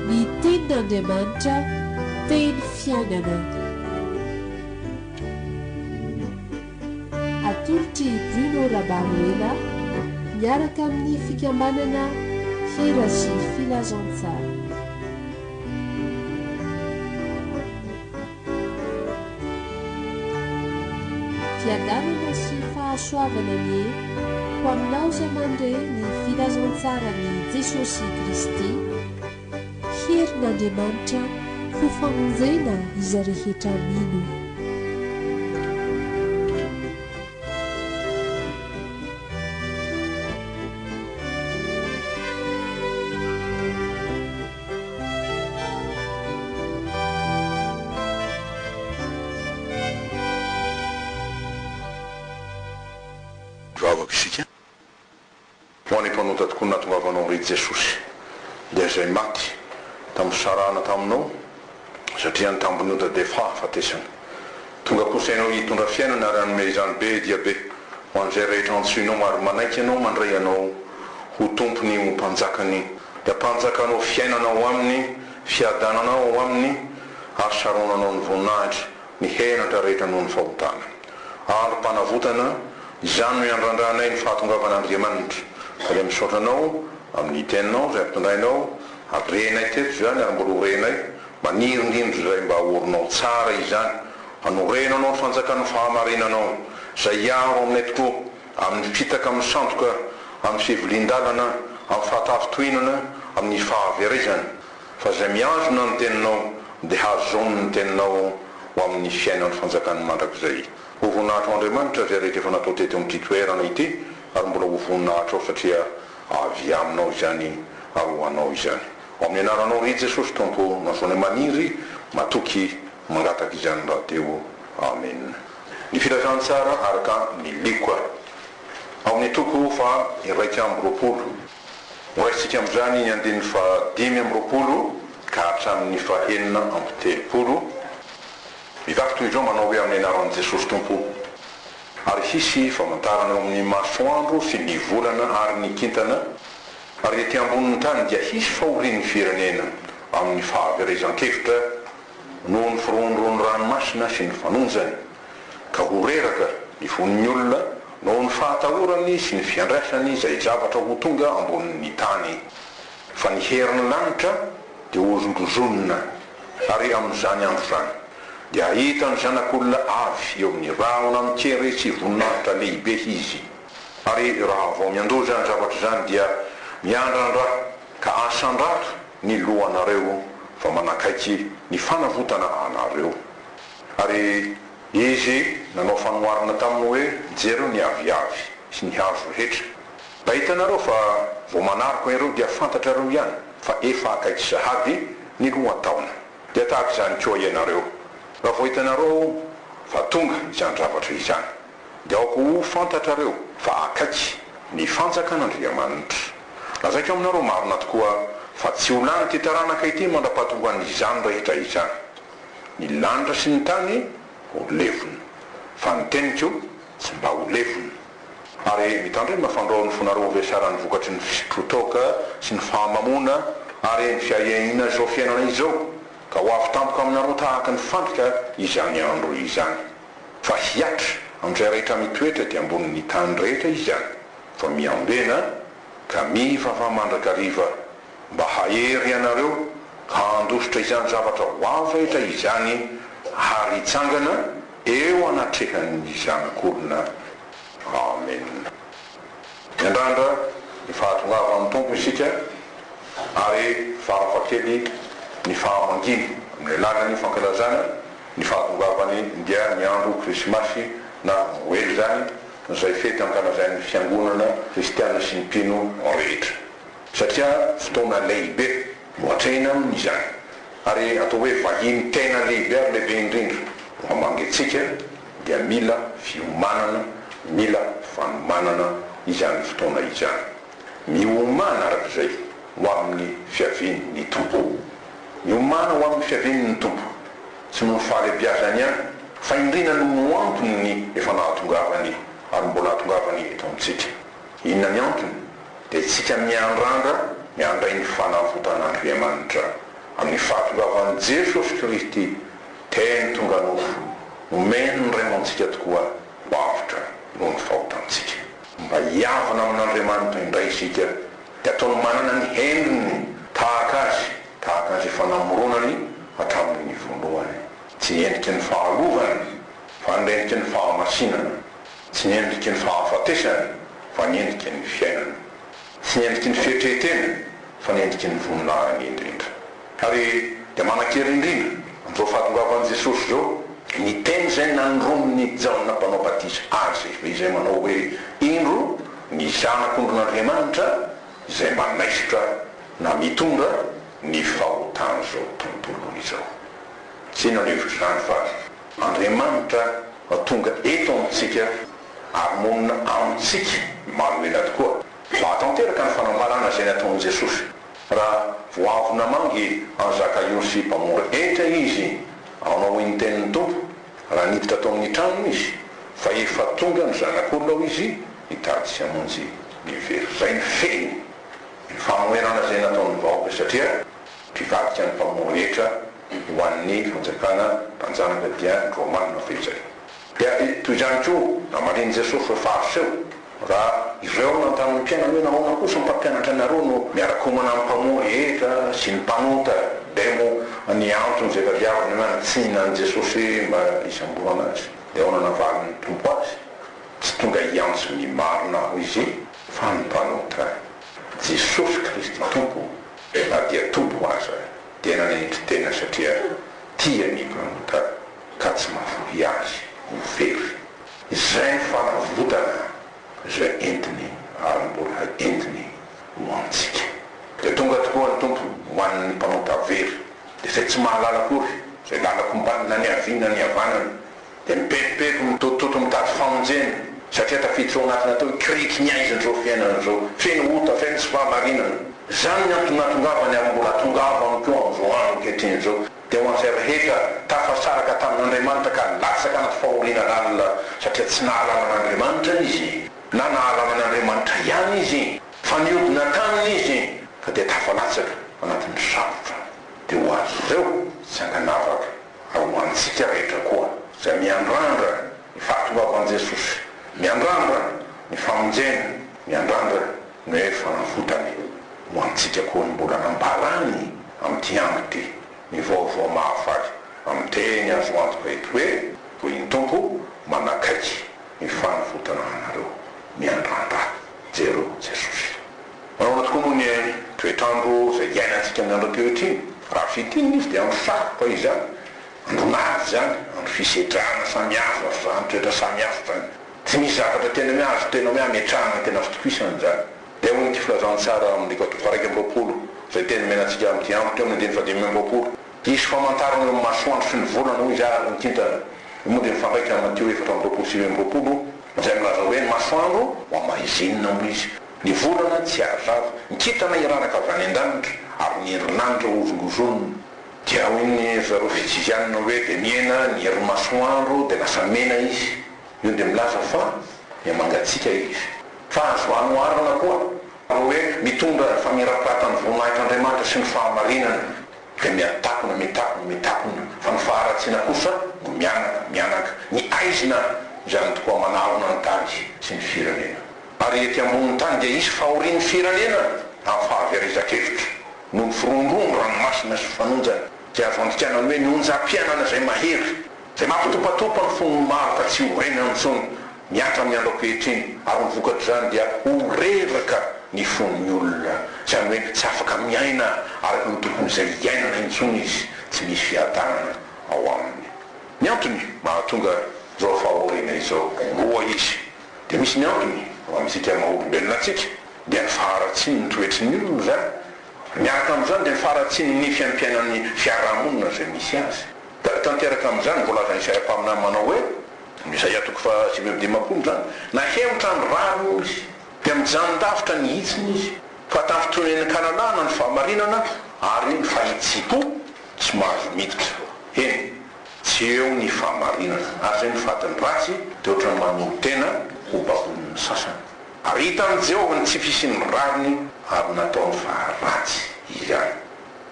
Ny Tenin'Andriamanitra, Teny Fiainana. Atolotr'i Bruno Rabaroela miaraka amin'ny Fikambanana Hira sy Filazantsara. Fiadanana sy fahasoavana anie ho aminao izay mandre ny filazantsaran'i Jesosy Kristy. Herin'Andriamanitra ho famonjena izay rehetra mino. Mivavaka isika, Ho any mpanota tokoa natongavanao re Jesosy, dia izay maty tamin'ny fisarahana taminao Satria ny tambin'ota dia fahafatesana. Tonga kosa ianao hitondra fiainana ary hanome izany be dia be ho an'izay rehetra antsoinao ary manaiky anao mandray anao ho tompony ho mpanjakany. Dia mpanjakanao fiainana ao aminy, fiadanana ao aminy ary saronanao ny voninahitry ny henatra rehetra noho ny fahotana. Androm-panavotana, izany no iandrandranay ny fahatongavan'Andriamanitra. Ka dia misaotra anao amin'ny teninao izay ampitondrainao. Renay teto izany ary mbola ho renay maniry indrindra izay mba haorinao tsara izany, hanoreno anao ny fanjakan'ny fahamarinanao, izay hiaro aminay tokoa amin'ny mpitaka misandoka amin'ny fivilian-dalana, amin'ny fahatafintohinana, amin'ny fahaverezana. Fa izay mihazona ny teninao dia hazony ny teninao ho amin'ny fiainan'ny fanjakan'ny mandrakizay. Ho voninahitrao Andriamanitra izay rehetra efa natao teto amin'ity toerana ity ary mbola ho voninahitrao satria Avy Aminao izany ary ho Anao izany. Ao amin'ny Anaranao Ry Jesosy Tompo Masoandro Maniry matoky mangataka izany rahateo Amen. Ny filazantsara araka ny lioka ao amin'ny toko faha iraika amby roapolo. Horaisintsika amin'izany ny andininy faha dimy amby roapolo ka hatramin'ny faha enina amby telopolo. Mivaky toy izao manao hoe amin'ny anaran'i Jesosy Tompo. ary hisy famantarana eo amin'ny masoandro sy ny volana ary ny kintana, ary ety ambonin'ny tany dia hisy fahorian'ny firenena amin'ny fahaverezan-kevitra noho ny firohondrohon'ny ranomasina sy ny fanonjany, ka ho reraka ny von'ny olona noho ny fahatahorany sy ny fiandrasany izay zavatra ho tonga ambonin'ny tany. Fa ny herin'ny lanitra dia hohozongozonina, ary amin'izany andro izany dia hahita ny Zanak'olona avy eo amin'ny rahona mikeretsy sy voninahitra lehibe izy. Ary raha vao miandoja ny zavatra izany dia miandrandra ka asandrato ny lohanareo, fa manakaiky ny fanavotana anareo. Ary Izy nanao fanoharana taminy hoe, Jereo ny aviavy sy ny hazo rehetra. Mba hitanareo fa vao manaraka ireo dia fantatrareo ihany fa efa akaiky sahady ny lohataona. Dia tahaka izany koa ianareo, raha vao hitanareo fa tonga izany zavatra izany, dia aoka ho fantatrareo fa akaiky ny fanjakan'Andriamanitra. Lazaiko aminareo marina tokoa fa tsy ho lan'ity taranaka ity mandra-pahatohan'izany rehetra izany. Ny lanitra sy ny tany ho levona, fa ny teniko Tsy mba ho lefona. Ary mitandrema fandraon'ny fonareo ho vesaran'ny vokatry ny fisotroan-toaka sy ny fahamamoana ary eny fiahiahiana izao fiainana izao, ka ho avy tampoka aminareo tahaka ny fandrika izany andro izany. Fa hihatra amin'izay rehetra mitoetra ety ambonin'ny tany rehetra izany. Fa miambena, ka mivavaha mandrakariva mba hahery anareo ka handositra izany zavatra voafaitra izany ary hitsangana eo anatrehan'ny Zanak'olona. Amena. Miandrandra ny fahatongavan'ny Tompo isika ary farafa kely ny fahamanginy amin'ny alalan'ny fankalazana ny fahatongavany dia ny andro Krisimasy na Noely izany izay fety ankalazain'ny Fiangonana Kristiana sy ny mpino rehetra. satria fotoana lehibe no atrehina aminy izany, ary atao hoe vahiny tena lehibe ary lehibe indrindra no hamangiantsika, dia mila fiomanana, mila fanomanana izany fotoana izany. Miomana araka izay ho amin'ny fiavian' ny Tompo. Miomana ho amin'ny fiavian' ny Tompo, tsy noho ny fahalebiazany ihany, fa indrindra noho ny ho antony ny efa nahatongavany ary mbola hahatongavany eto amintsika. Inona ny antony? Dia isika miandrandra ny handray ny fanavotan'Andriamanitra. Amin'ny fahatongavan'i Jesosy Kristy, teny tonga nofo, nomeny ny Raiamantsika tokoa ho avotra noho ny fahotantsika. Mba hiavona amin'Andriamanitra indray isika, dia ataony manana ny hendriny tahaka Azy, tahaka Azy efa namoronany hatramin'ny voalohany. Tsy endriky ny fahalovana, fa ny endriky ny fahamasinana. Tsy ny endriky ny fahafatesana fa ny endriky ny fiainana. Tsy ny endriky ny fietrehentena fa ny endriky ny voninahiny indrindra. Ary dia manan-kery indrindra amin'izao fahatongavan'i Jesosy izao ny teny izay nandromin'i Jaona Mpanao Batisa Azy, izay manao hoe, Indro ny Zanak'ondrin'Andriamanitra izay manaisotra na mitondra ny fahotan'izao tontolo izao. Tsy inona no hevitr'izany fa. Andriamanitra no tonga eto amintsika ary monina amintsika Imanoela tokoa. Mahatanteraka ny fanambarana izay nataon'i Jesosy. Raha vao avy namangy an'i Zakaiosy mpamora hetra Izy hanao hoy ny tenin'ny Tompo, raha niditra tao amin'ny tranony Izy, fa efa tonga ny Zanak'olona ao Izy hitady sy hamonjy ny very. Izay no fehiny, ny fanoherana izay nataon'ny vahoaka satria mpivadika ny mpamora hetra. ho an'ny fanjakana mpanjanaka dia ny Romanina fehiny izay. Dia toy izany koa namalian'i Jesosy ireo Fariseo, Raha ireo nanontanian'ny mpianany hoe nahoana kosa ny mpampianatra anareo no miara-komana amin'ny mpamory hetra sy ny mpanota, dia moa ny antony izay tadiaviny nanitsihina an'i Jesosy mba hisamborana azy? Dia ahoana navalin'ny Tompo azy? Tsy tonga hiantso ny marina aho izy fa ny mpanota. Jesosy Kristy Tompo na dia Tompo aza dia nanetry tena satria tia an'i Ibrahimka ka tsy mahafoy azy ho very. Izay ny fanavotana izay entiny ary mbola entiny ho antsika. Dia tonga tokoa ny Tompo ho an'ny mpanota very, dia izay tsy mahalala akory izay lalako mba na niaviana nihavanana, dia mibevobevo midotodoto mitady famonjena satria tafiditra ao anatiny tao io kirihitry ny haizina izao fiainana izao feno ota feno tsy fahamarinana izany ny antony nahatongavany ary mbola atongavany koa amin'izao andro ankehitriny izao dia ho an'izay rehetra tafasaraka tamin'Andriamanitra ka latsaka anaty fahoriana lalina satria tsy nahalala an'Andriamanitra izy na nahalala an'Andriamanitra ihany izy fa niodina taminy izy ka dia tafalatsaka anatin'ny sarotra dia ho azy ireo tsy ankanavaka. Ary ho antsika rehetra koa izay miandrandra ny fahatongavan'i Jesosy, miandrandra ny famonjena, miandrandra ny hoe fanavotana, ho antsika koa ny mbola nambarany amin'ity andro ity ny vaovao mahafaly amin'ny teny azo antoka eto hoe, Hoy ny Tompo, manakaiky ny fanavotana anareo, miandrandra jereo Jesosy. Nahoana tokoa moa ny toetr'andro izay iainantsika amin'ny andro ankehitriny? Raha fintinina izy dia andro sarotra izany, andro maty izany, andro fisedrana samy hafa fa ny toetra samy hafa izany. Tsy misy zavatra tena hoe azo tena hoe hametrahana tena fitokisana izany. Dia ahoana ity filazantsara ao amin'ny andiko atoko faha-iraika amby roapolo izay teny omena antsika amin'ity andro ity ao amin'ny andininy fahadimy amby roapolo, Hisy famantarana eo amin'ny masoandro sy ny volana, hoy izy, ary ny kintana. Io moa dia mifandraika amin'i Matio efatra amby roapolo sy sivy amby roapolo izay milaza hoe, Ny masoandro ho amaizinina, hoy izy. Ny volana tsy ary vava, ny kintana hiraraka avy any an-danitra, ary ny herinandro horongoronina. Dia hoy ny ry zareo Fitsivianina hoe, dia mihena ny herin'ny masoandro, dia lasa mena izy. Io dia milaza fa mihamangatsiaka izy. Fa azo anoharana koa ny hoe, mitondra ny famirapiratan'ny voninahitr'Andriamanitra sy ny fahamarinana. Dia mihatakona, mitakona, mitakona, fa ny faharatsiana kosa no mihanaka, mihanaka. Ny haizina izany tokoa manarona ny tany sy ny firenena. Ary ety ambonin'ny tany dia hisy fahorian'ny firenena amin'ny fahaverezan-kevitra, noho ny firongoron'ny ranomasina sy fanonjany, dia azo andikana hoe ny onjam-piainana izay mahery, izay mampitopatopa ny fon'ny maro ka tsy ho renany intsony, mihatra amin'ny andro ankehitriny, ary ny vokatr'izany dia ho reraka ny fon'ny olona, izany hoe tsy afaka miaina araka ny tokon'izay hiainana intsony izy, tsy misy fiadanana ao aminy. Ny antony mahatonga izao fahoriana izao roa izy. Dia misy ny antony ho antsika maha olombelona antsika, dia ny faharatsian'ny toetry ny olona izany. Miaraka amin'izany dia ny faharatsian'ny ny fiaimpiainan'ny fiarahamonina izay misy azy. Da tanteraka amin'izany ny voalazan'ny serampaminany manao hoe, amin'ny Isaia toko faha sivy amby dimampolo izany, Nahemotra ny rariny hoy izy, dia mijanondavitra ny hitsiny izy, fa tafintonin'ny kalalahana ny fahamarinana ary ny fahitsiam-po tsy mahazo miditra. Eny. Tsy eo ny fahamarinana. Ary izay mivady ny ratsy dia ohatran'ny mamino tena ho babonin'ny sasany. Ary hitan'i Jehovah ny tsy fisian'ny rariny ary nataony fa ratsy izany.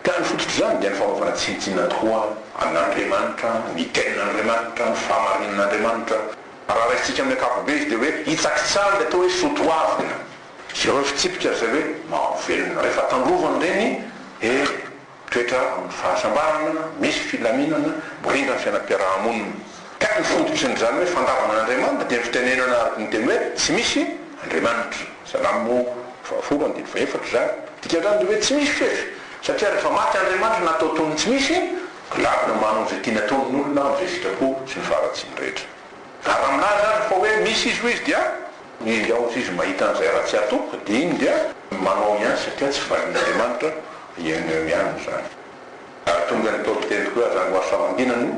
Tany fototr'izany dia ny fanaovana tsinontsinona tokoa an'Andriamanitra, ny Tenin'Andriamanitra, ny fahamarinan'Andriamanitra. Raha raisintsika amin'ny ankapobe izy dia hoe hitsakitsaha ilay atao hoe soatoavina. Ireo fitsipika izay hoe mahavelona, rehefa tandrovany ireny, eh! Toetra amin'ny fahasambarana, misy filaminana, mirindra ny fiainam-piaraha-monina. Ka ny fototry ny izany hoe fandavana an'Andriamanitra dia ny fitenenana araka ny teny hoe tsy misy Andriamanitra. Salamo fahafolo andininy fahefatra izany. Ny dikan'izany dia hoe tsy misy fefy, satria rehefa maty Andriamanitra na atao toy ny tsy misy, dia lavina manao izay tiany ataony ny olona amin'izay sitrapo sy ny faharatsiany rehetra. Ary raha milaza aza fa hoe misy izy hoy izy dia. Ingahy hozy izy mahita an'izay raha tsy atoko dia iny dia manao ihany satria tsy valin'Andriamanitra eo no eo ihany izany. Ary tonga ny Paoly teny koa zany ho azo famangiana no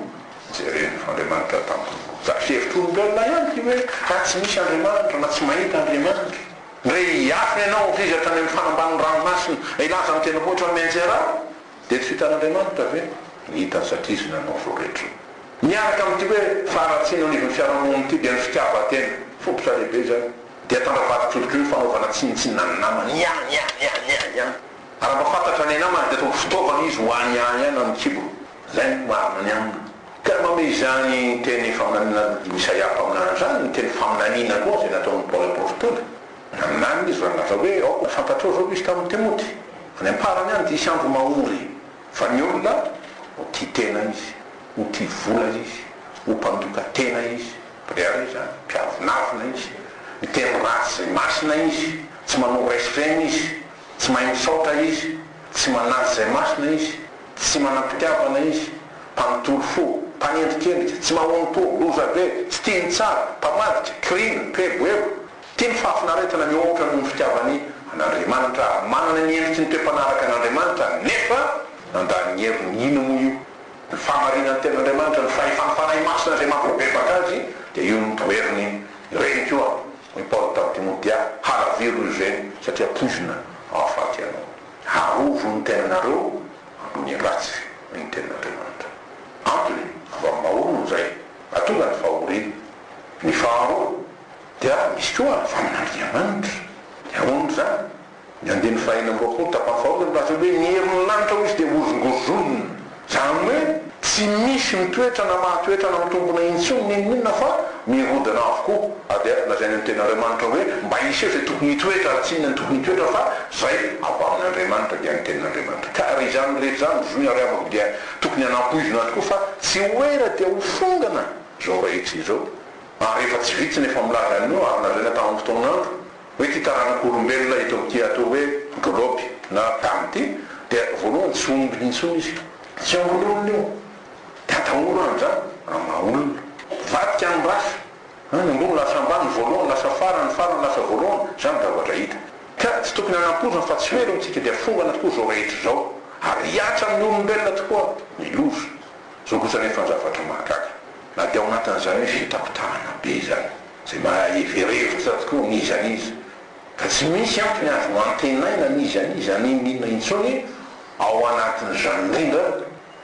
jereny fa Andriamanitra tampoka. Zany fihevitr'olombelona ihany ity hoe raha tsy misy Andriamanitra na tsy mahita Andriamanitra. Ndre hiafina ianao hozy izy hatrany amin'ny fanambanin'ny ranomasina hilaza amin'ny tendrombohitra mianjera aho. Dia tsy hitan'Andriamanitra ve? Ny hitany satria Izy nanao izao rehetra izao. Miaraka amin'ity hoe faharatsiana eo anivon'ny fiarahamonina ity dia ny fitiavan-tena. Fototra lehibe izany. Dia tandra vadin-tsolika eo ny fanaovana tsinontsinona ny namany. Ny ahy, ny ahy, ny ahy, ny ahy, ny ahy. Ary raha mba fantatra ny namany dia ataony fitaovana izy ho any ahy ihany amin'ny kibony. Izay no marina ny aminy. Ka manome izany teny faminaniana an'i Isaia mpaminany izany ny teny faminaniana koa izay nataon'i Paoly aporofo tony. Naminany izy raha nilaza hoe, Aoka ho fantatrao izao misy tamin'i Timoty. Any am-parany any dia hisy andro mahory, fa ny olona ho tia tena izy, ho tia vola izy, ho mpandoka tena izy, brière izany, mpiavonavona izy, miteny ratsy izay masina izy, tsy manao respect izy, tsy mahay misaotra izy, tsy manaja izay masina izy, tsy manam-pitiavana izy, mpanontolo fo, mpanendrikendrika, tsy mahono-po, lozabe, tsy tia ny tsara, mpamadika, kiriana, mpieboebo, Tia ny fahafinaretana mihoatra noho ny fitiavany an'Andriamanitra ary manana ny endriky ny toe-panaraka an'Andriamanitra nefa nandany ny heriny. Inona moa io? Ny fahamarinan'ny Tenin'Andriamanitra, ny fahefan'ny Fanahy Masina izay mampibebaka azy dia io no toheriny. Ny reny koa, hoy i Paoly tamin'i Timoty, dia halaviro io izay satria poizina hahafaty anao. Arovy ny tenanareo amin'ny ratsy, hoy ny Tenin'Andriamanitra. Antony, avy amin'ny maha-olona izay atonga ny fahoriana. Ny faharoa, Dia misy koa ny famin'Andriamanitra. Dia ahoana izany? Ny andininy fahenina amby roapolo tapany faharoa dia milaza hoe ny herin'ny lanitra hoy izy dia hozongozonina. Izany hoe tsy misy mitoetra na mahatoetra na mitombona intsony na inona na inona fa mirodana avokoa. Ary dia lazaina ny tenin'Andriamanitra hoe mba hiseho izay tokony hitoetra ary tsy inona no tokony hitoetra fa izay avy amin'Andriamanitra dia ny tenin'Andriamanitra. Ka ary izany rehetra izany ry zohina ry havako dia tokony hanampoizina tokoa fa tsy ho ela dia ho fongana izao rehetra izao. Ary efa tsy vitsy ny efa milaza an'io ary lazaina tamin'ny fotoan'andro hoe ity taranak'olombelona hita ao amin'ity atao hoe globe na tany ity dia voalohany tsy omby intsony izy. Tsy ombin'olona io. Dia atahoro any izany amin'ny maha olona. Mivadika amin'ny race. An, ny ambony lasa ambany, voalohany lasa farany, ny farany lasa voalohany. Izany ny zavatra hita. Ka tsy tokony hanampoizina fa tsy ho ela hoy isika dia fongana tokoa izao rehetra izao. Ary hihatra amin'ny olombelona tokoa ny loza. Zao kosa anefa ny zavatra mahagaga, na dia ao anatin'izany hoe fitakotahana be izany, izay mahevery hevitra tokoa an'iza an'iza, ka tsy misy antony azo antenaina an'iza an'iza na inona inona intsony, ao anatin'izany indrindra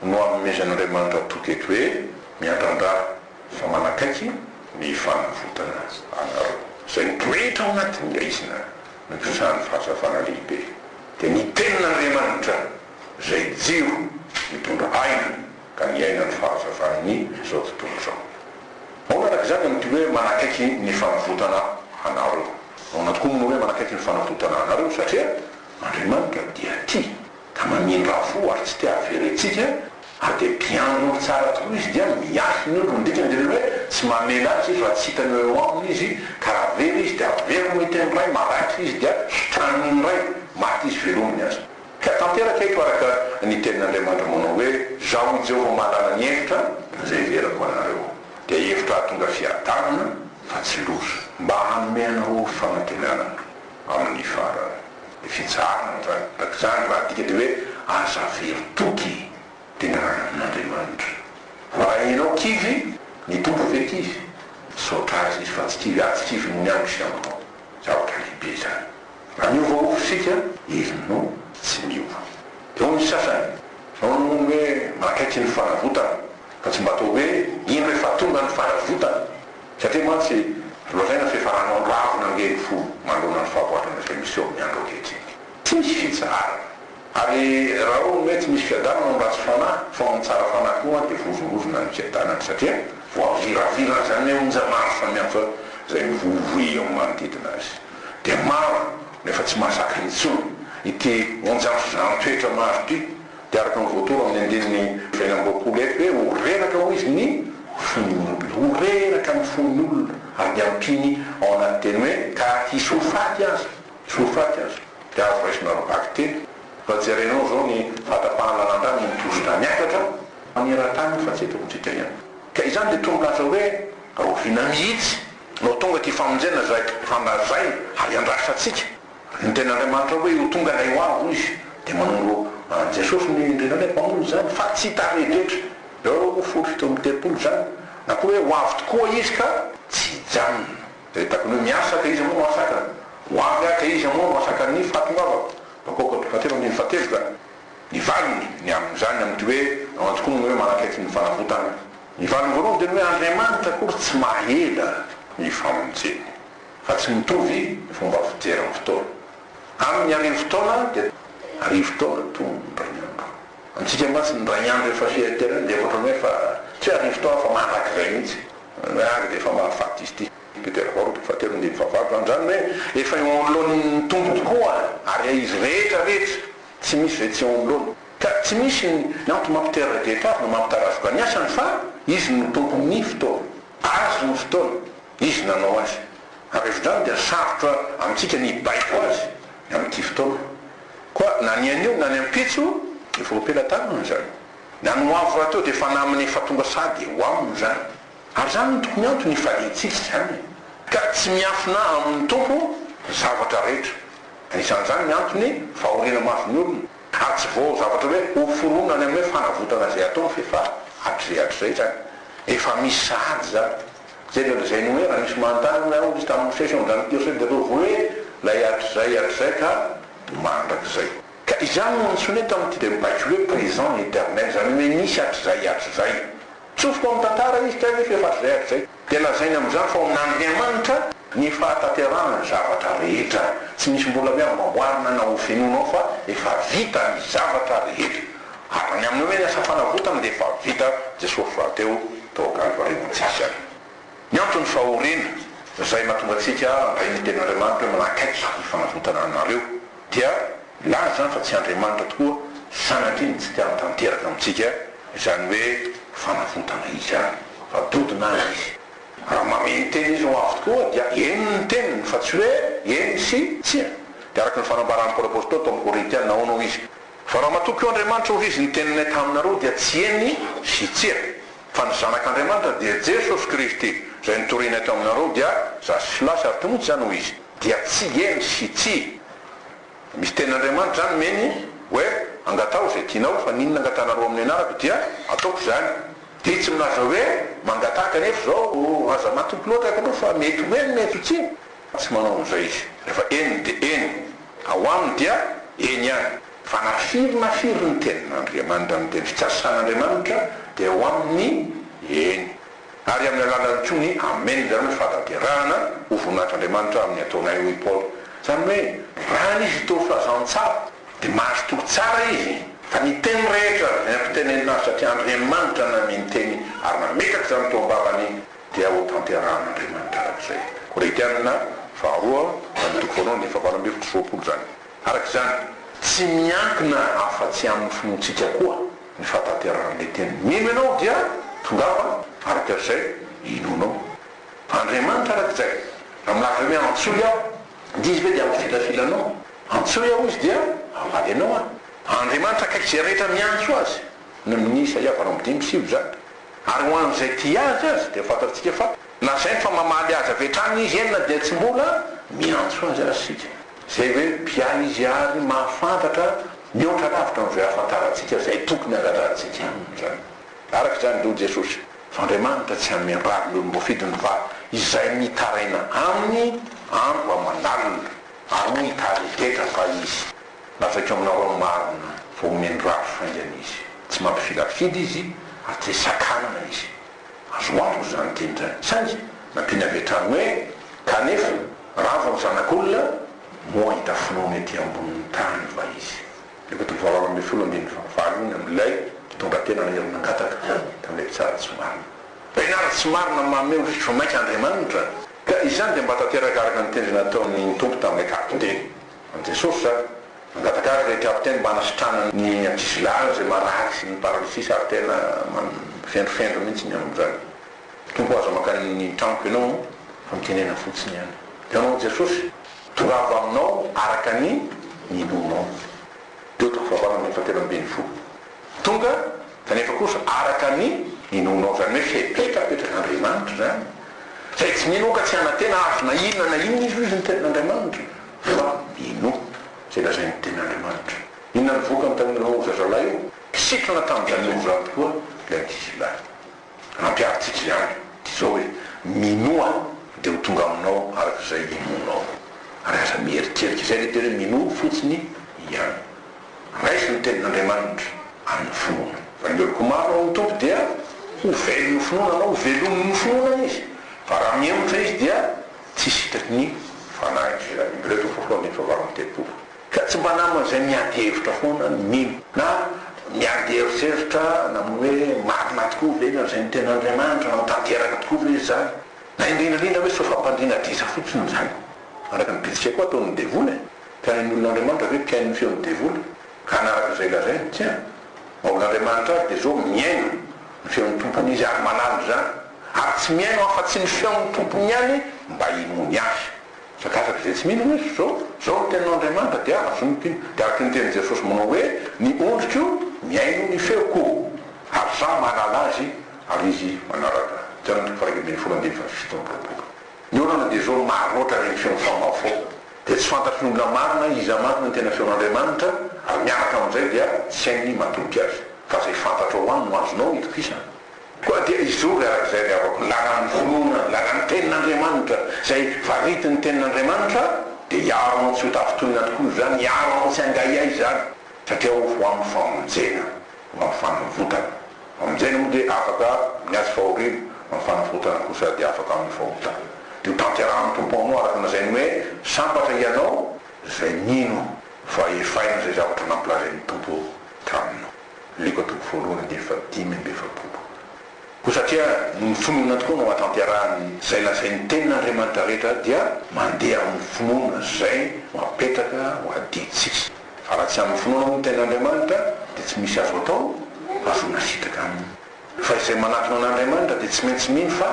no anomezan'Andriamanitra toky eto hoe, Miandrandra fa manakaiky ny fanavotana anareo. Izay mitorehitra ao anatin'ny haizina no hisahan'ny fahazavana lehibe. Dia ny tenin'Andriamanitra. izay jiro mitondra aina ka niaina ny fahazavan'ny izao tontolo izao. Ahoana araka izany amin'ity hoe manakaiky ny fanavotana anareo? Ahoana tokoa moa ny hoe manakaiky ny fanavotana anareo satria Andriamanitra dia tia ka mamindra fo ary tsy te haverentsika ary dia mpiandry ny tsara tokoa Izy dia miahy ny olony. Ny dikany dia ny hoe tsy mamela azy Izy raha tsy hitany hoe eo aminy izy ka raha very izy dia averiny hiteny indray, maty izy dia hitranginy indray, maty izy velominy aza. Ka tanteraka eto araka ny tenin'Andriamanitra manao hoe, Izaho i Jehovah mahalala ny hevitra izay hiverako ho anareo, dia hevitra hahatonga fiadanana fa tsy loza, mba hanome anareo fanantenana amin'ny farany. Ny fitsaharana izany, araka izany, ny lahatìka dia hoe, Aza very toky teny anatrehan'Andriamanitra. Fa raha ianao kivy, ny Tompo ve kivy? Misaotra Azy Izy fa tsy kivy, ary tsy kivin'ny andro sy andro koa. Zavatra lehibe izany! Raha niova ofo isika, izy no tsy niova. Eo ny sasany no noho ny hoe mahakaiky ny fanavotana, fa tsy mba toa hoe iny rehefa tonga ny fanavotana, satria mantsy lazaina fa efa nanao-ravina ange ny fo manoloana ny fahaboatrana izay miseho amin'ny andro ankehitriny. Tsy misy fitsaharana. Ary raha hono hoe tsy misy fiadanana ny ratsy fanahy, fa ny tsara fanahy koa dia voavolozona ny fiadanany, satria voaviraviran'izany onja maro samihafa izay mivoivoy eo amin'ny manodidina azy. Dia maro, nefa tsy mahazaka intsony ity onja mpizahan-toetra maro ity. Dia araka ny voatoro amin'ny andininy fahefatra amby roapolo eto hoe, Ho reraka, hoy Izy, ny fon'ny olona. Ho reraka ny fon'ny olona, ary dia ampiany ao anaty teny hoe, ka hisy ho faty aza. Tsy ho faty aza dia azo raisina roa bakiteny. Raha jerainao izao ny fahatapahan'ny randrana eny Tozotra miakatra maneran-tany io fa tsy eto amintsika ihany. Ka izany dia toa milaza hoe rahoviana mihitsy no tonga ity famonjena izay efa nolazaina ary iandrasantsika. Ny Tenin'Andriamanitra hoe ho tonga ilay ho avy hoy izy dia manondro an'i Jesosy ny indrindra indray mpamonjy izany fa tsy tarehin-drehetra ireo folo sy fito amby telopolo izany na koa hoe ho avy tokoa izy ka tsy hijanona. Dia hitako ny hoe miasa ka iza moa no asakany? Ho avy aho ka iza moa no asakany ny fahatongavako? Bakoka tonga telo ambin'ny efa-telo ka. Ny valiny ny amin'izany amin'ity hoe ao an-tokoa no hoe manakaiky ny fanavotana. Ny valiny voalohany dia ny hoe Andriamanitra akory tsy mahahela ny famonjeny. Fa tsy mitovy ny fomba fijery ny fotoana. Aminy arivo taona dia arivo taona toa ny andro. Antsika mantsy ny iray andro efa fiertena dia ohatra hoe efa tsy hoe arivo taona fa mandrakizay mihitsy. Ny ady dia efa mahafaty izy ity. Petera faharoapolo fahatelo ambin'ny dimampolo fahavalo zany. Izany hoe efa eo anoloan'ny Tompo tokoa ary izy rehetra rehetra, tsy misy izay tsy eo anoloany. Ka tsy misy ny antony mampitera-drehetra azy na mampitarazoka ny asany fa izy no tompon'ny fotoana. Azy ny fotoana, izy nanao azy. Ary avy hatrany dia sarotra amintsika ny hibaiko azy amin'ity fotoana. Koa na ny anio na ny ampitso dia vao am-pelatanana izany. Na ny ho avy rahateo dia efa namana efa tonga sady ho aminy izany. Ary izany no tokony antony hifaliantsika izany e! Ka tsy miafina amin'ny Tompo ny zavatra rehetra. Anisan'izany ny antony fahoriana mahazo ny olona. Ary tsy vao zavatra hoe hoforonina any amin'ny hoe fanavotana izay ataony fa efa hatrizay hatrizay izany. Efa misy sahady izany. Jereo an'izay ny hoe raha misy manontany ny aho misy tamin'ny mosesy ao amin'izany verset dia ataovy hoe ilay hatrizay hatrizay ka mandrakizay. Ka izany no nantsoinay tamin'ity dia mibaiko hoe présent éternel izany hoe misy hatrizay hatrizay. Tsofoka ao amin'ny tantara izy tsy hay ve fa efa hatrizay hatrizay. Dia lazainy amin'izany fa ao amin'Andriamanitra ny fahatanterahana ny zavatra rehetra. Tsy misy mbola hoe amboamboarina na hofenoina ao fa efa vita ny zavatra rehetra. Ary ny amin'ny hoe ny asa fanavotana dia efa vita Jesosy rahateo tao Kalvary hoantsika. Ny antony fahoriana izay mahatonga antsika handray ny tenin'Andriamanitra hoe manakaiky ny fanavotana anareo dia milaza izany fa tsy Andriamanitra tokoa sanatria no tsy te hanatanteraka amintsika izany hoe fanavotana izany fa dodona azy izy. Raha manome ny teny izy ho avy tokoa dia eny ny teniny fa tsy hoe eny sy tsia. Dia araka ny fanambaran'i Paoly Apostoly tao amin'ny Korintiana ahoana hoy izy? Fa raha matoky eo Andriamanitra hoy izy ny teninay taminareo dia tsy eny sy tsia, fa ny zanak'Andriamanitra dia Jesosy Kristy izay notorinay taminareo dia zasy sy lasy ary tonontsy izany hoy izy dia tsy eny sy tsia misy tenin'Andriamanitra izany meny hoe angataho izay tianao fa ny inona angatanareo amin'ny anarako dia ataoko izany dia tsy milaza hoe mangataka nefa izao aza matoky loatra aky aloha fa mety ho eny mety ho tsia. Tsy manao an'izay izy. Rehefa eny dia eny. Ao aminy dia eny ihany. Fa na firy na firy ny tenin'Andriamanitra, ny teny fikasan'Andriamanitra, dia ao aminy ny eny. Ary amin'ny alalan'ny koa ny amen izany hoe fahatanterahana ho voninahitr'Andriamanitra amin'ny ataonay, hoy i Paoly. Izany hoe raha ny izy toa fazantsara dia mahazo toky tsara izy. Fa ny teny rehetra izay nampitanenina azy satria Andriamanitra no namiany teny ary nametraka izany teo am-bavany. dia ho tanterahan'Andriamanitra hatramin'izay. Koretiana faharoa amin'ny toko voalohany dia efa valo amby efatra sy roapolo izany. Araka izany, tsy miankina afa-tsy amin'ny finoantsika koa ny fahatanterahan'ilay teny. Mino ianao dia tongava araka izay inoanao. Andriamanitra araka izay. Raha milaza hoe antsoy aho, dia izy ve dia hampifilafila anao? Antsoy aho izy dia hamaly anao aho. Andriamanitra akaiky izay rehetra miantso azy, ny amin'ny Isaia valo amby dimy sy sivy izany. Ary ho an'izay tia azy aza dia fantatsika fa lazainy fa mamaly azy avy hatrany izy eny na dia tsy mbola miantso azy aza isika. Izay hoe mpiahy izy ary mahafantatra mihoatra lavitra noho izay ahafantarantsika izay tokony hangatrantsika aminy izany. Araka izany indray hoy Jesosy fa Andriamanitra tsy hanome rary ny olom-boafidiny fa izay mitaraina aminy andro aman'alina. Ary moa hitari-detra va izy? Lazaiko aminao amin'ny marina fa omeny rafy faingana izy. Tsy mampifilafidy izy ary tsy sakanana izy. Azo antoka izany teny izany. Saingy nampiany avy hatrany hoe, Kanefa, ravo amin'ny Zanak'olona, moa hahita finoana ety ambonin'ny tany va izy? Efa toa voaraoka amin'ny folo ambin'ny fahavalo iny amin'ilay mpitondra tena naniry nangataka tamin'ilay mpitsara tsy marina. Mpianara tsy marina mameho fifon'aika Andriamanitra, ka izany dia mba tanteraka araka ny tendrena ataon'ny Tompo tamin'ilay kapiteny. An'i Jesosy izany. Mangataka azy ilay kapiteny mba hanasitrana ny ankizilahiny izay marary sy ny paralysisy ary tena mifendrofendro mihitsy ny amin'izany. Tompo o, aza mankany ny tranoko ianao fa mitenena fotsiny ihany ianao Jesosy. Toravo aminao araka ny ninoanao. Teo toko fahavalo ambin'ny folo telo ambin'ny folo. Tonga Kanefa kosa araka ny inoanao izany hoe fepetra apetrak'Andriamanitra izany, izay tsy mino ka tsy hanantena azo na inona na inona izy, hoy izy, ny Tenin'Andriamanitra, fa minoa izay lazain'ny Tenin'Andriamanitra. Inona no vokany tamin'ireo zazalahy io? Kisitrana tamin'izany ozany tokoa ilay ankizilahy. Nampiarintsika ihany dia izao hoe, Minoa dia ho tonga aminao araka izay inoanao. Ary aza mieritreritra izay lehibe hoe minoa fotsiny ihany. Raiso ny Tenin'Andriamanitra amin'ny finoana. Raha ny oloko maro ao amin'ny Tompo dia ho velon'ny finoana anao, ho velomin'ny finoana izy. Fa raha mihemotra izy dia tsy sitraky ny Fanahy. Efa voalohany ny fahavalo amby telopolo. Ka tsy mba namana izay miady hevitra foana no mino. Na miady eritreritra na moa hoe marina tokoa ve na izay no tena Andriamanitra na tanteraka tokoa ve izany. Na indrindra indrindra hoe sao fampandriana diso fotsiny izany. Araka ny bitsika koa ataon'ny devoly e! Mpihaino ny olon'Andriamanitra ve mpihaino ny feon'ny devoly ka hanaraka izay lazainy? Tsia! Maha olon'Andriamanitra azy dia zao, mihaino ny feon'ny tompony izy ary malala izany. Ary tsy mihaino afa-tsy ny feon'ny tompony ihany mba hinoany azy. Fa gaga izay tsy mino hoe zao zao ny teninao Andriamanitra dia azo ny mpino dia araka ny tenin'i Jesosy manao hoe ny ondriko mihaino ny feoko ary izaho mahalala azy ary izy manaraka ahy Jan toko faha iraika ambin'ny folo andininy faha fito amby roapolo Ny olana dia zao maro loatra ireny feon'ny famafao dia tsy fantatry ny olona maro na iza marina ny tena feon'Andriamanitra ary miaraka amin'izay dia tsy hainy ny matoky azy fa izay fantatrao ihany no azonao itokisana. Koa dia hizory araka izay avy ao amin'ny lalan'ny finoana, ny lalan'ny Tenin'Andriamanitra, izay faritin'ny Tenin'Andriamanitra, dia hiaro anao tsy ho tafintonina tokoa izany, hiaro anao tsy hangahiahy izany, satria ho amin'ny famonjena, ho amin'ny fanavotana. Ny famonjena moa dia afaka amin'ny ady fahoriana, fa ny fanavotana kosa dia afaka amin'ny fahotana. Dia hotanterahan'ny Tompo aminao araka ny lazainy hoe, Sambatra hianao izay mino fa efaina izay zavatra nampilazain'ny Tompo taminao. Leko toko voalohany andininy fahadimy amby efapolo. Koa satria noho ny finoana tokoa no ahatanterahany izay lazain'ny Tenin'Andriamanitra rehetra dia mandeha amin'ny finoana izay no apetraka ho adidintsika. Fa raha tsy amin'ny finoana moa ny Tenin'Andriamanitra dia tsy misy azo atao fa zonà sitraka aminy. Fa izay manatona an'Andriamanitra dia tsy maintsy mino fa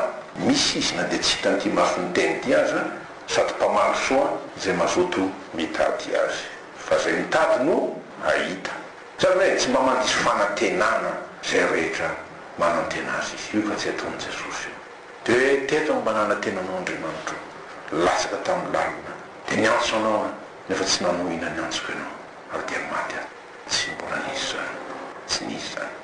misy Izy na dia tsy hitan'ity mason'ny tena ity aza sady mpamaly soa izay mazoto mitady Azy. Fa izay mitady no hahita. Zany hoe tsy mba mandiso fanantenana izay rehetra manantena azy izy. Io efa tsy ataon'i Jesosy io. Dia hoe teto aho mba nanantena anao Andriamanitro, latsaka tamin'ny lalina, dia niantso anao aho, nefa tsy nanohina ny antsoko ianao, ary dia maty aho. Tsy mbola nisy izany. Tsy nisy izany.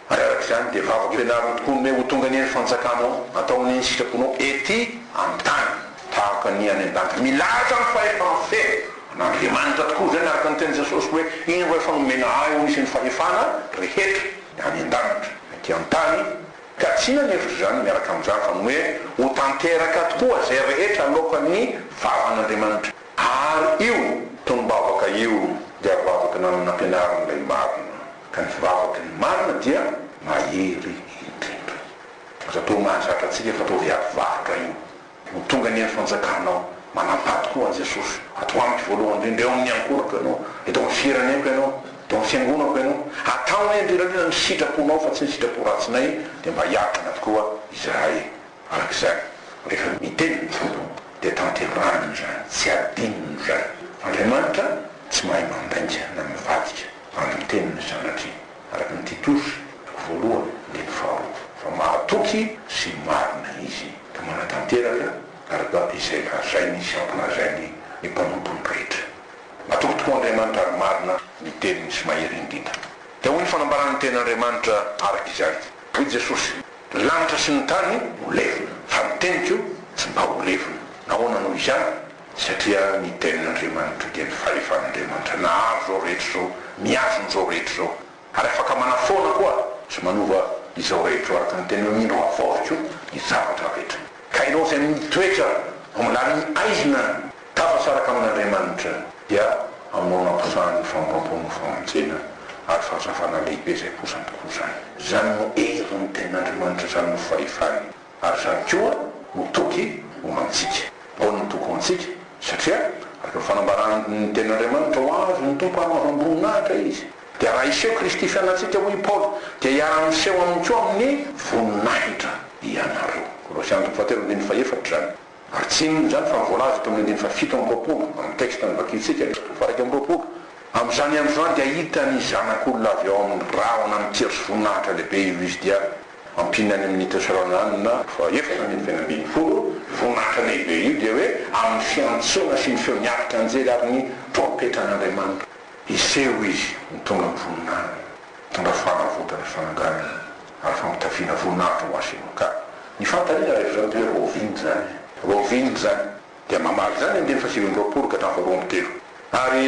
ary araka izany dia vavaka ianareo tokoa ny hoe ho tonga anie ny fanjakanao, ataonao ny sitraponao ety amin'ny tany tahaka ny any an-danitra. Milahatra ny fahefana feno an'Andriamanitra tokoa izany araka ny tenin'i Jesosy hoe, iny ho efa nomena ahy ho isan'ny fahefana rehetra ny any an-danitra na ety an-tany, ka tsy nanefitra izany miaraka amin'izany fa ny hoe ho tanteraka tokoa izay rehetra aloakan'ny vavan'Andriamanitra. Ary io tonom-bavaka io dia vavaka nanana ampianarin'ilay marina. ka ny vavaky ny marina dia mahery indrindra. Aza atao mahazatra antsika fa ataovy ato varotra io no tonga anie ny fanjakanao, manam-paty koa an'i Jesosy, ato amiko voalohany indrindra, eo amin'ny ankolako ianao, eto amin'ny fireneko ianao, eto amin'ny fiangonako ianao, atao anie an-dry Rajoelina ny sitraponao fa tsy ny sitrapo ratsinay dia mba hiaritra anao tokoa izahay. Araka izany, rehefa miteny ny Tompo, dia tanterahany izany, tsy adinony izany. Andriamanitra tsy mahay mandainga na mivadika amin'ny tenin'ny Zanatriny, araka ny Titosy voalohany andininy faharoa, fa mahatoky sy marina Izy, ka manatanteraka araka izay lazainy sy ampilazany ny mpanompony rehetra. Matoky tokoa Andriamanitra ary marina ny teniny sy mahery indrindra. Dia hoy ny fanambarany ny tenin'Andriamanitra araka izany, hoy Jesosy. Ny lanitra sy ny tany ho levona, fa ny teniko tsy mba ho levona. Nahoana no izany? Satria ny Tenin'Andriamanitra dia ny fahefan'Andriamanitra nahazo izao rehetra izao, miazo an'izao rehetra izao, ary afaka manafoana koa sy manova izao rehetra izao, araka ny teny hoe Mindro havaoziko ny zavatra rehetra. Ka ianao izay mitoetra ao ambany haizina Tafasaraka amin'Andriamanitra dia aminao namposahan'ny famoram-pony ho famonjena ary fahazavana lehibe izay posany koa izany. Izany no herin'ny tenin'Andriamanitra, izany no fahefany ary izany koa no toky ho antsika. Ahoana no toky ho antsika? Satria araka ny fanambaran'ny tenin'Andriamanitra ho azy ny Tompo ary manamboninahitra izy. Dia raha hiseho Kristy fianantsika hoy i Paoly dia hiara-miseho aminy koa amin'ny voninahitra ianareo. Kolosiana toko fahatelo andininy fahefatra izany. Ary tsy inona izany fa ny voalaza teo amin'ny andininy fahafito amby roapolo amin'ny texte novakintsika ny zato faha iraika amby roapolo, Amin'izany andro izany dia hahita ny Zanak'olona avy ao amin'ny rahona mikiry sy voninahitra lehibe io Izy dia hampiana any amin'ny Teoserananina, faha efatra ambin'ny fahefatra ambin'ny folo, io voninahitra lehibe io dia hoe amin'ny fiantsoana sy ny feon'ny aritr' anjely ary ny trompetran' Andriamanitra. Hiseho Izy mitondra ny voninahiny, mitondra fanavotana sy fananganana. ary famitafiana voninahitra ho azy ianao. Ka ny fantarina rehefa izany dia hoe raoviana izany? Raoviana izany? Dia mamaly izany ny andininy fahasivy amby roapolo ka hatramin'ny faharoa amby telo. Ary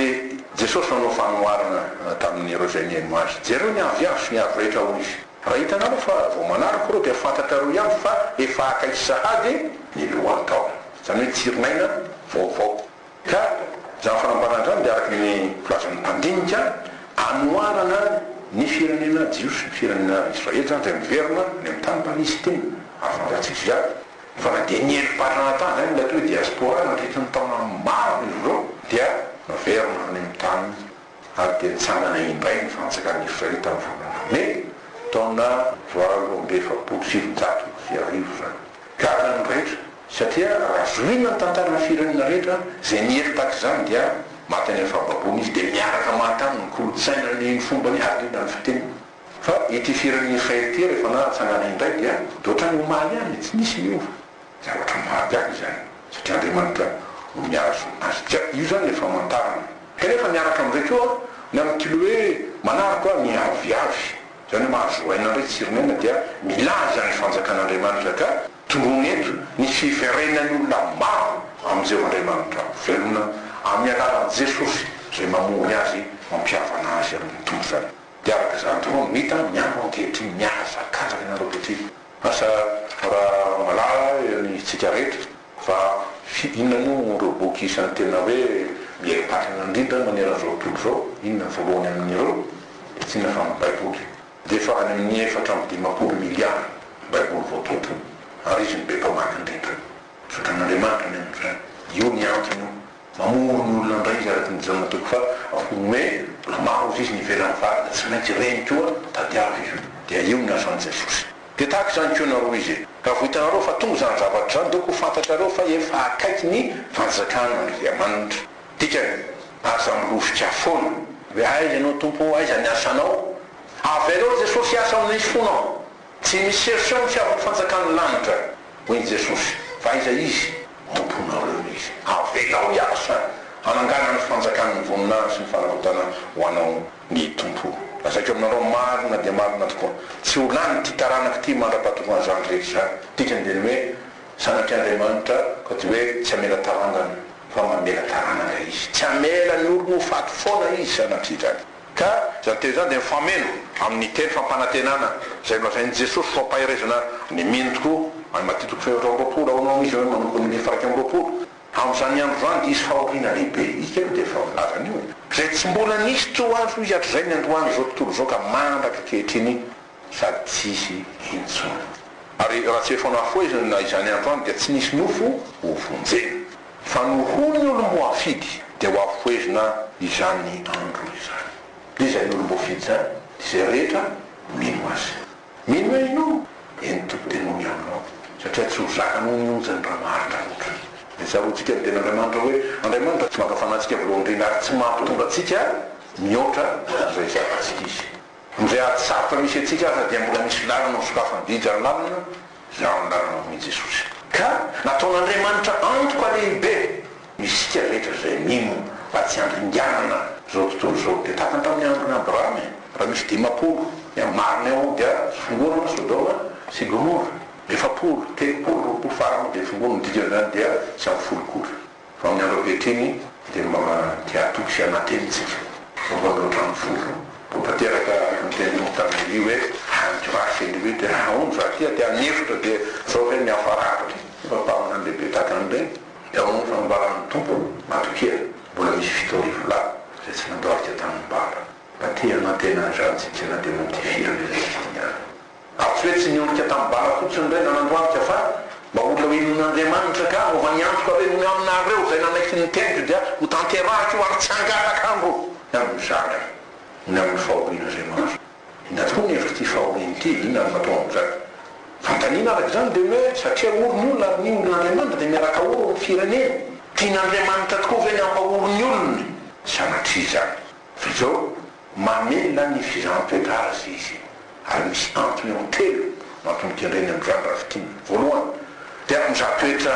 Jesosy nanao fanoharana tamin'ireo izay nihaino Azy. Jereo ny avy azo sy ny avy rehetra, hoy Izy. Raha hitanareo fa vao manaraka ireo dia fantatrareo ihany fa efa akaiky sahady ny lohan'ny taona, izany hoe tsirin'aina vaovao. Ka izany fanambaràn-drano dia araka ny filazan'ny mpandinika anohanana ny firenena jiosy, ny firenena Israely izany izay miverina any amin'ny tany Palestina, ary fantatsika ihany fa na dia nieripatrana tany izany ilay atao hoe diaspora nandritra ny taona maro izy ireo dia niverina any amin'ny tany. ary dia nitsangana indray ny Fantsakan'ny Eofrata amin'ny Volana Mey, taona valo amby efapolo sy sivinjato sy arivo izany. Gaga ny rehetra, satria raha zohina ny tantaran'ny firenena rehetra, izay niely tahaka izany dia maty any amin'ny fahababoana izy, dia miaraka maty aminy ny kolontsainany, ny fombany ary indrindra ny fiteniny. Fa ity firenena Eofrata ity rehefa natsangana indray dia dia ohatran'ny omaly ihany, tsy nisy niova. Zavatra maty any izany satria Andriamanitra no mihazo azy. Ka io izany ilay famantarana. Kanefa miaraka amin'izay koa ny amin'ny tily hoe manaroko aho ny aviavy, izany hoe mahazo aina indray Tsirinena dia milaza ny fanjakan'Andriamanitra ka tondroiny eto ny fiverenan'ny olona maro amin'i Jehovah Andriamanitra velona amin'ny alalan'i Jesosy izay mamory azy mampihavana azy amin'ny Tompo izany. Dia araka izany tokoa no hita miaro ankehitriny ny hazakazaka ianareo ankehitriny. Asa raha malala ny tsika rehetra fa fi inona moa no ireo boky isan'ny tena hoe mieri-patana indrindra maneran'izao tontolo izao, inona ny voalohany amin'ireo? Tsinona fa ny baiboly. Dia efa any amin'ny efatra amby dimampolo miliara baiboly voatonta ary izy no be mpamaky indrindra. Misaotra an'Andriamanitra ny amin'izany. Io ny antony io Mamono ny olona indray izy araka ny Jaona toko faha roapolo hoe mbola maro ny sisa ny ivelan'ny fary dia tsy maintsy reny koa tadiavo io dia io ny asan'i Jesosy. Dia tahaka izany koa ianareo izy e! Raha vao hitanareo fa tonga izany zavatra izany dia ho fantatrareo fa efa akaiky ny fanjakan'Andriamanitra. Dikany, aza milofika foana hoe aiza ianao Tompo ô, aiza ny asanao? Avelao Jesosy hiasa ao amin'ny fonao. Tsy misy chercheur misiavy ny fanjakan'ny lanitra, hoy i Jesosy, fa aiza izy? Tomponareo izy. Avelao hiasa hanangana ny fanjakan'ny voninahiny sy ny fanavotana ho anao ny Tompo. Lazaiko aminareo marina dia marina tokoa, tsy ho lan'ity taranaka ity mandra-pahatokan' izany rehetra izany. Dikany dia ny hoe zanaky Andriamanitra, ka dia hoe tsy hamela tarangana, fa mamela taranaka izy. Tsy hamela ny olony ho faty foana izy, sanatria izany. Ka izany teny izany dia mifameno amin' ny teny fampanantenana izay nolazain' i Jesosy ho fampaherezana ny mino tokoa. Any Matia toko fahefatra amby roapolo ao no amin' izy ireo manomboka ny andininy fahairaika amby roapolo. Amin' izany andro izany dia hisy fahoriana lehibe. Ika aloha dia efa milaza an' io e. Izay tsy mbola nisy toa azy hoy hatrizay ny androany izao tontolo izao ka mandraka ankehitriny sady tsisy intsony. Ary raha tsy efa nafoheziny na izany androany dia tsy nisy nofo ho vonjena. Fa no ho ny olom-boafidy dia ho afohezina izany andro izany. Dia izany olom-boafidy izany dia izay rehetra mino azy. Mino ahy ianao, eny Tompo dia noho ny aminao, satria tsy ho zaka noho ny onjany raha maharitra loatra. Dia tsaroantsika ny tenin'Andriamanitra hoe, Andriamanitra tsy maka fanantsika voalohany indrindra ary tsy mampitondra antsika mihoatra izay zakantsika Izy. Izay ady sarotra misy antsika aza dia mbola misy lalana ho sokafany didy ary lalana izay amin'ny lalana homin'i Jesosy. Ka nataon'Andriamanitra antoka lehibe isika rehetra izay mino mba tsy handringanana izao tontolo izao. Dia tahaka ny tamin'ny andron'i Abrahama e, raha misy dimampolo dia marina eo dia fongonana Sodoma sy Gomora, efapolo, telopolo, roapolo farany dia fongoniny, ny dikan'izany dia tsy amin'ny folo akory. Fa amin'ny andro ankehitriny dia mba te hatoky sy hanantena isika. Vaovao avy ao an-trano folo, vao tanteraka ny tenin'i Montana Elie hoe hahangy vary ve Elie dia hahaony vary ity aty amin'ny efitra dia zao ve ny hafarako ity? Efa mpaminany lehibe tahaka an'i Reny dia ao amin'ny fanambaran'ny Tompo matokia mbola misy fito arivo lahy izay tsy nandao azy teo tamin'ny baba. Mba te hanantena an'izany isika na dia notifirana ilay fitoniana. Ary tsy hoe tsy niondrika tamin'ny bala fotsiny ireny nanandroandrika fa mba olona hohenoin'Andriamanitra ka mova ny antoko ary hoy aminareo izay nanaiky ny teny Jodea ho tanterahiko io ary tsy hangataka andro ny amin'ny zandriny ny amin'ny fahorian'Andriamanitra. Inona tokoa ny hevitr'ity fahoriana ity? Inona no matoa amin'izany? Fanontaniana araka izany dia ny hoe satria ory ny olona ary ny olon'Andriamanitra dia miaraka ory ny fireneny. Tian'Andriamanitra tokoa ve ny hampahory ny olony? Sanatria izany. Fa izao. Mamela ny fizahan-toetra azy izy ary misy antony eo amin'ny telo no antony kendreny amin'izany raha fintinina. Voalohany, tena mizaha toetra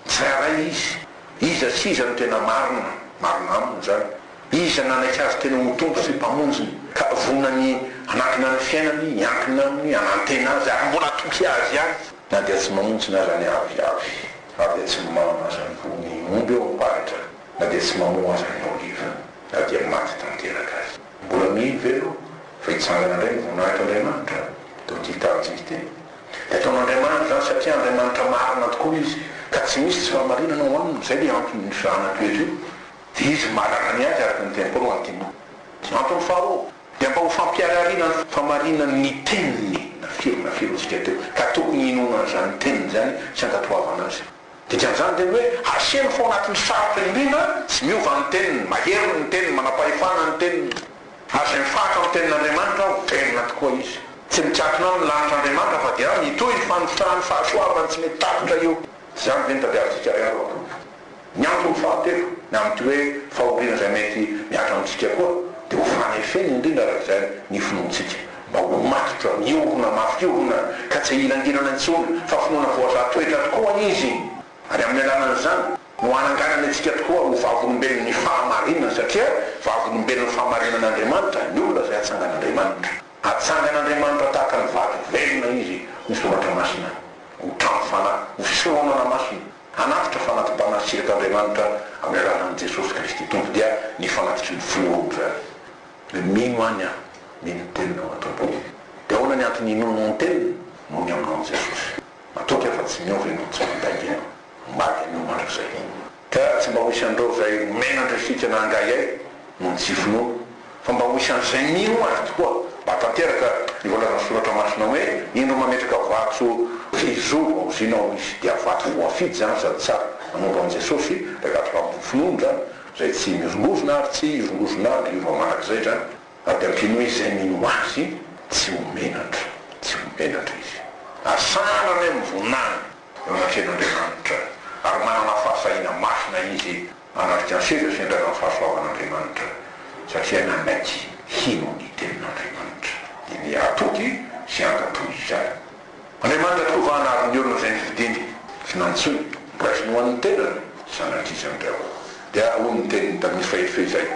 tsirairay izy. Iza sy iza no tena marina? Marina aminy izany. Iza nanaiky azy tena ho Tompo sy Mpamonjiny, ka vonany hanangona ny fiainany, hiankina aminy, hanantena azy ary mbola hatoky azy ihany, na dia tsy mamonjy ny razany avy avy ary dia tsy mimamina azy amin'ny voa ny omby ao amin'ny faritra? Na dia tsy mamoa azy ny oliva, na dia maty tanteraka aza. Mbola mino ve ianao fa hitsangana indray ny voninahitr'Andriamanitra? Toy ity taranja ity, Dia ataon'Andriamanitra izany satria Andriamanitra marina tokoa Izy, ka tsy misy tsy fahamarinana ao Aminy. Izay ilay anton'io zana-toetra io, dia Izy manana ny Azy araka ny teniny koa no antinao. Antony faharoa, dia mba ho fampiharihariana ny fahamarinan'ny Teniny, na firy na firy hoy isika teo, ka tokony hinoana an'izany Teniny izany sy ankatoavana azy. Dikan'izany dia ny hoe asehony fa ao anatin'ny sarotra indrindra tsy miova ny teniny, mahery ny teniny, manam-pahefana ny teniny. Ary izay mifahatra amin'ny tenin'Andriamanitra aho, velona tokoa izy. Tsy mikatona aho ny lanitr'Andriamanitra fa dia mitohy ny fanotrahan'ny fahasoavany tsy mety tapitra eo. Izany ve ny tadiavintsika ry havako? Ny antony fahatelo ny amin'ity hoe fahoriana izay mety mihatra amintsika koa dia ho fanefena indrindra araka izany ny finoantsika. Mba ho matotra, miorina, mafy orina, ka tsy hilangelana intsony, fa finoana voazaha toetra tokoa izy, ary amin'ny alalan'izany no ananganany antsika tokoa ho vavolombelon'ny fahamarinana, satria vavolombelon'ny fahamarinan'Andriamanitra ny olona izay atsangan'Andriamanitra. Atsangan'Andriamanitra tahaka ny vato velona izy ho soratra masina, ho trano fanahy, ho fisoronana masina, hanatitra fanati-panahintsika t'Andriamanitra amin'ny alalan'i Jesosy Kristy Tompo, dia ny fanatitry ny finoana izany. Dia mino any aho, mino ny teninao raha Tompo ô. Dia ahoana ny antony inoanao ny teniny? Noho ny aminao ny Jesosy. Matoky aho fa tsy miova ianao, tsy mandainga ianao. Maro ianao mandrakizay. Ka tsy mba ho isan'ireo izay omena andresika na angahiay noho ny tsy finoana, fa mba ho isan'izay mino azy tokoa, mba hatanteraka ny voalazan'ny soratra masina hoe, Indro mametraka vato fihizoa vaozinao izy, dia vato voafidy izany sady tsara. Nanompo an'i Jesosy, dia gadradrampin'ny finoana izany. Izay tsy mirongorona ary tsy hirongorona avy io mamanaka izay dra avy ampiany hoe izay mino azy tsy ho menatra, tsy ho menatra izy. Ary sanana ny amin'ny voninahiny eo anatrehan'Andriamanitra, ary manana fahasahiana masina izy hanaraka ny seza sy ny razan'ny fahasoavan'Andriamanitra, satria nanaiky hino ny tenin'Andriamanitra, dia miha-atody sy hankato izany. Andriamanitra tokoa va hanary ny olona izay ny fidiny sy nantsoiny? Raisiny ho an'ny tenany sanatria izany ry aho. Dia hoy ny teniny tamin'izy fahefy izay,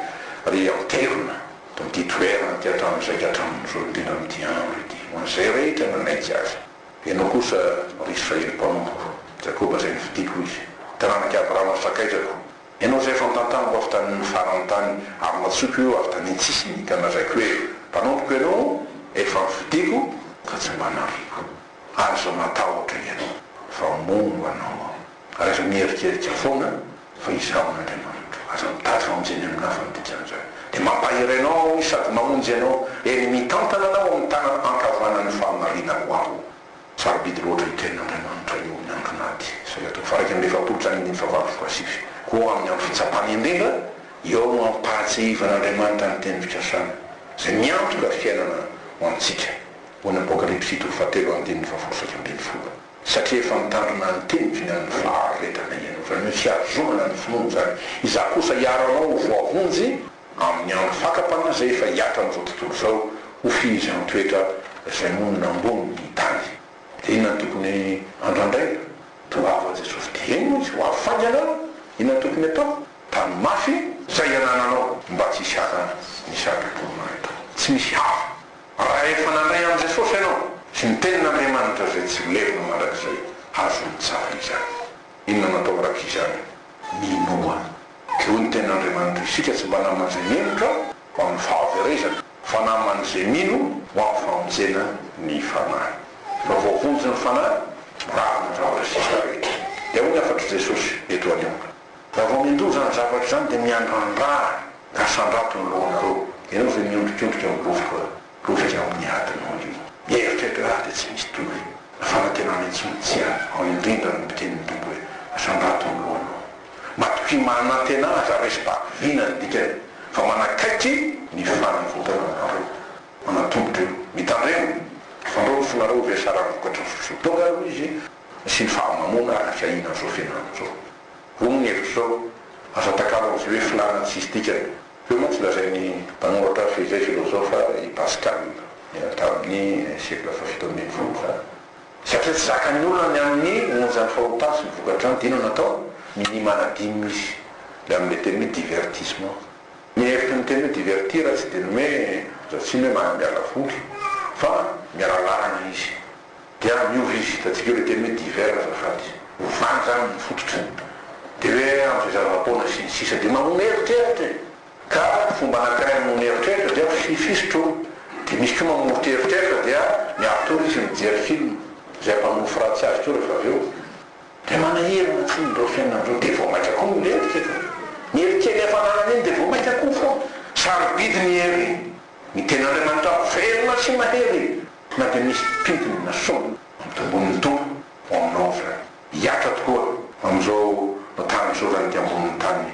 Ry ampitevina, amin'ity toerana ity hatramin'izay ka hatramin'izao no tena amin'ity andro ity, ho an'izay rehetra nanaiky azy. Ianao kosa, ry Israely mpanompoko, Jakoba izay nifidiko, hoy Izy, taranak'i Abrahama sakaizako, Ianao izay fantantarako avy tamin'ny faran'ny tany ary natsoiko eo avy tany an-tsisiny ka nalaiko hoe mpanompoko ianao, efa nofidiako ka tsy mba nariako. Aza matahotra ianao fa moa ho anao aho. Aza miherikerika foana fa izaho Andriamanitro. Aza mitady famonjena amin'ny hafa ny dikan'izany. Dia mampahery anao aho sady mamonjy anao, eny mitantana anao amin'ny tanana ankavanan'ny fahamarinako aho. Sarobidy loatra hikain' Andriamanitra eo amin'ny andro maty, izay hatao faraika amby efapolo sy anindimy sy fahavalo folo asivy. Koa amin'ny andro fitsapana indrindra, eo no ampahatsiahivan' Andriamanitra ny teny fikasany, izay miantoka fiainana ho antsika, hoy ny Apokalypsy fito fahatelo andininy fahafolo saika ambin'ny folo. Satria efa mitandrina ny teniko ny amin'ny faharetana ianao, izany hoe fiazonana ny finoana izany, izaho kosa hiaro anao ho voavonjy, Amin'ny andro fakam-panahy izay efa hihatra amin'izao tontolo izao, ho fihezan-toetra izay monina ambony ny tany. Dia inona no tokony andrandraina? Toa avo an'i Jesosy dia eny moa izy, ho avy faingana aho, inona no tokony atao? Tano mafy izay anananao mba tsy hisy hafa ny saro-pitoriana eto. Tsy misy hafa. Raha efa nandray an'i Jesosy ianao sy ny Tenin'Andriamanitra izay tsy ho levona mandrakizay, azonao tsara izany. Inona no atao mandrakizay izany? Minoa. Teo ny Tenin'Andriamanitra isika tsy mba naman' izay mendrika ho amin'ny fahaverezana, fa naman' izay mino ho amin'ny famonjena ny Fanahy. Fa voavonjy ny Fanahy raha mandrava isika rehetra. Dia hoy ny hafatr'i Jesosy eto anio, Raha vao mindoha izany zavatra izany, dia miandrandra ary asandrato ny lohanareo. Ianao izay miondrikondrika mibofoka. Rovitra ao amin'ny adinao io. Mieritreritra ahy dia tsy misy tory. Ny fanantenana intsony tsy ahy. Ao indrindra no miteny ny Tompo hoe, Asandrato ny lohanao. Matokia manantena aza raisim-pako vina ny dikany fa manakaiky ny fanavotana anareo. Manantombotra io. Mitandrema. Fandrao ny fonareo ho vesarany vokatry ny sosoa. Tonga aloha izy nasiany fahamamoana ary afiahina an'izao fianarana izao. Roa ny hevitro izao, aza atakalo an'izay hoe filàna ny tsisy dikany. Teo mantsy lazain'ny mpanoratra hafa izay filozofa i Pascal, niaina tamin'ny siekla fahafito ambin'ny folo izany, satria tsy zakan'ny olona ny amin'ny onjan'ny fahotany sy ny vokatrany dia inona atao? minia manadino izy ilay amin'ilay teny hoe divertissement. Ny hevitry ny teny hoe divertir tsy dia ny hoe azo atsino hoe manambiala voly fa miala lalana izy. dia amin'io izy hitantsika io ilay teny hoe divers azafady, ovany izany ny fototra, dia hoe amin'ny fizaram-poana sy ny sisa dia mamono eritreritra e! ka ny fomba anankiray hamonoana eritreritra dia fifisitra o! dia misy koa mamoritra eritreritra dia miatory izy mijery film, izay mpamono fratsy azy koa rehefa avy eo dia manahirana tsy ny ireo fiainana ireo dia vao maika koa milentika ka ny hery kely efa ananany iny dia vao maika koa foana, sarobidy ny hery, ny tenin'Andriamanitra velona sy mahery, Na dia misy mpitony na sombiny amin'ny tambonin'ny Tompo ao aminao aza, hihatra tokoa amin'izao tanjoran'ny ety ambonin'ny tany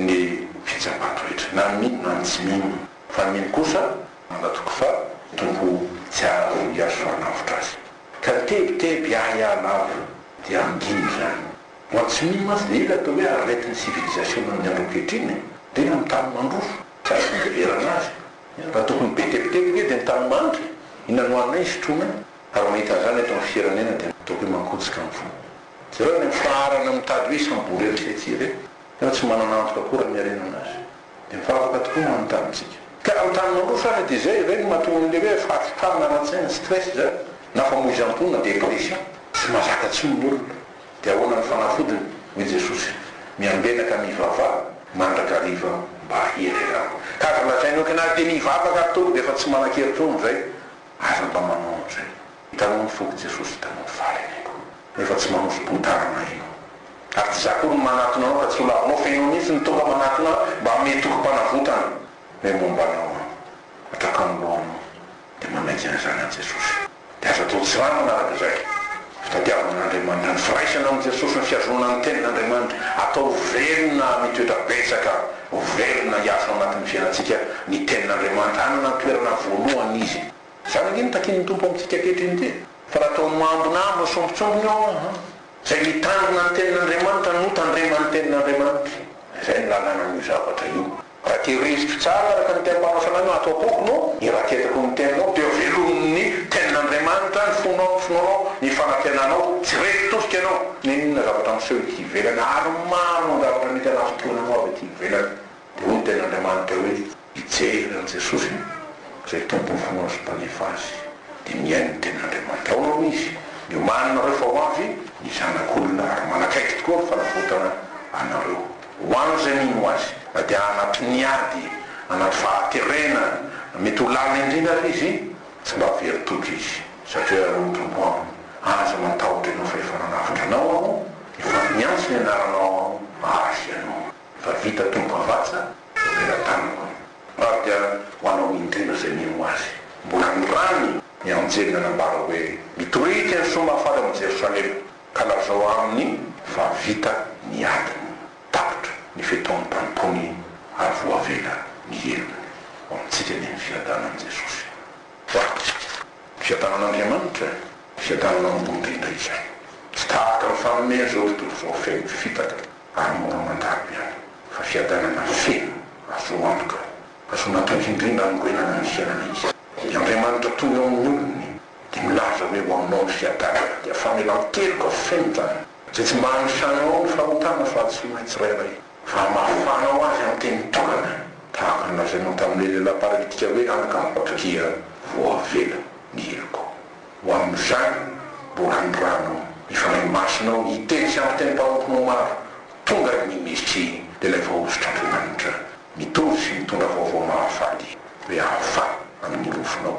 ny fitsapan-ko rehetra, na ny mino na ny tsy mino. Fa ny mino kosa mandatoky fa ny Tompo tsy hahazo hihazo faran'avotra azy. Ka tebiteby hiahiahy lava dia andino izany. Ho an'ny tsy mino mantsy dia io ilay atao hoe aretin'ny sivilizasiona amin'ny andro ankehitriny, dia ny amin'ny tany mandroso tsy azo fiheverana azy Raha tokony ho be tebiteby ange dia ny tanimandry iny anohaninay ny sotroina ary mahita an'izany eto amin'ny firenena dia ataoko hoe mankotsika ny fo. Jereo any amin'ny faharana mitady hoe isam-bola eo isika ity ve? Tena tsy manana antoka akory raha miharena an'azy. Dia mivavaka tokoa ny manontaniantsika. Ka amin'ny tany mandroso ary dia izay ve no mahatonga an'ilay hoe fahatsikana ara-tsaina, stress izany, na famoizam-po na dépression? Tsy mahazaka intsony ny olona. Dia ahoana ny fanafodiny? Hoy Jesosy, Miangenaka mivavaha mandrakariva mba hihererako. Ka aza lazaina hoe kna te mivavaka ary tonga dia efa tsy manan-kery intsony izay. Aza mba manao an'izay. Hitanao ny fon'i Jesosy, hitanao ny fahalehibeako. Nefa tsy manosi-poa-tanana ianao. Ary tsy izaho akory no manatona anao ka tsy ho lavinao fa ianao mihitsy no tonga manatona ahy mba hanome tokim-panavotana. Hoe momba anao aho. Hatraka ny lohanao. Dia manaiky an'izany an'i Jesosy. Dia aza atao tsiranoana araka izay fitadiavan' Andriamanitra ny firaisana amin'i Jesosy ny fihazoana ny tenin' Andriamanitra, atao velona mitoetra betsaka, velona hiasa ao anatin'ny fiainantsika ny tenin' Andriamanitra, hanana ny toerana voalohany izy. Izany ange no takian'ny Tompo amintsika ankehitriny ity, fa raha toa mambonambona sy sombintsombina eo aho, izay mitandrina ny tenin' Andriamanitra no tandreman'ny tenin' Andriamanitra, izay no lalànan'io zavatra io. Raha tehiriziko tsara araka ny teny mpanaotra anay no ato am-poko no iraketrako ny teninao dia velomin'ny tenin'Andriamanitra ny fonao ny finoanao ny fanantenanao tsy reto tosika ianao n'inon'inona zavatra miseho ety ivelany ary maro ny zavatra mety hanafitohina anao avy ety ivelany dia hoy ny tenin'Andriamanitra hoe hijery an'i Jesosy izay tompon'ny finoany sy mpanefy azy dia mihaino ny tenin'Andriamanitra ao no izy miomaninareo fa ho avy ny zanak'olona ary manakaiky tokoa ny fanavotana anareo. Ho an'izay mino azy dia anaty ny ady, anaty fahaterena, mety ho lalina indrindra ary izy, tsy mba very toky izy, satria hoy ny Tompo aminy, Aza matahotra ianao fa efa nanavotra anao Aho, efa niantso ny anaranao Aho, mahazo ianao. Efa vita Tompo Havatsa, Mpamela Tamiko. Ary dia ho anao indrindra izay mino azy. Mbola nirany ny anjely nanambara hoe, Mitoria ity ny soa mahafaly ao amin'i Jerosalema. Ka lazao aminy fa vita ny adiny, tapitra ny fetaon'ny mpanompony ary voavela ny helony. Ho amintsika anie ny fiadanan'i Jesosy. Ho ato. Fiadanan'Andriamanitra, fiadanana ambony indrindra izay. Tsy tahaka ny fanomeny izao tontolo izao feno fitaka ary mora mandalo ihany, fa fiadanana feno azo antoka, azo natoky indrindra hanorenana ny fiainana izy. I Andriamanitra tony eo amin'ny olony. Dia milaza hoe ho aminao ny fiadanana, dia famelan-keloka feno izany. Izay tsy mba hanisanao ao ny fahotana fa antsoin'ilay tsirairay fa hamafanao azy amin'ny teny tolona, tahaka ny lazainao tamin'ilay lehilahy paralitika hoe anaka mibaby dia vao avela ny helokao. Ho amin'izany, boranirano, ny Fanahy Masinao, hiteny sy hampiteny mpanomponao maro, tonga ny Mesia, dia ilay Vahosotr'Andriamanitra, mitory sy mitondra vaovao mahafaly, rehafa amin'ny rofinao.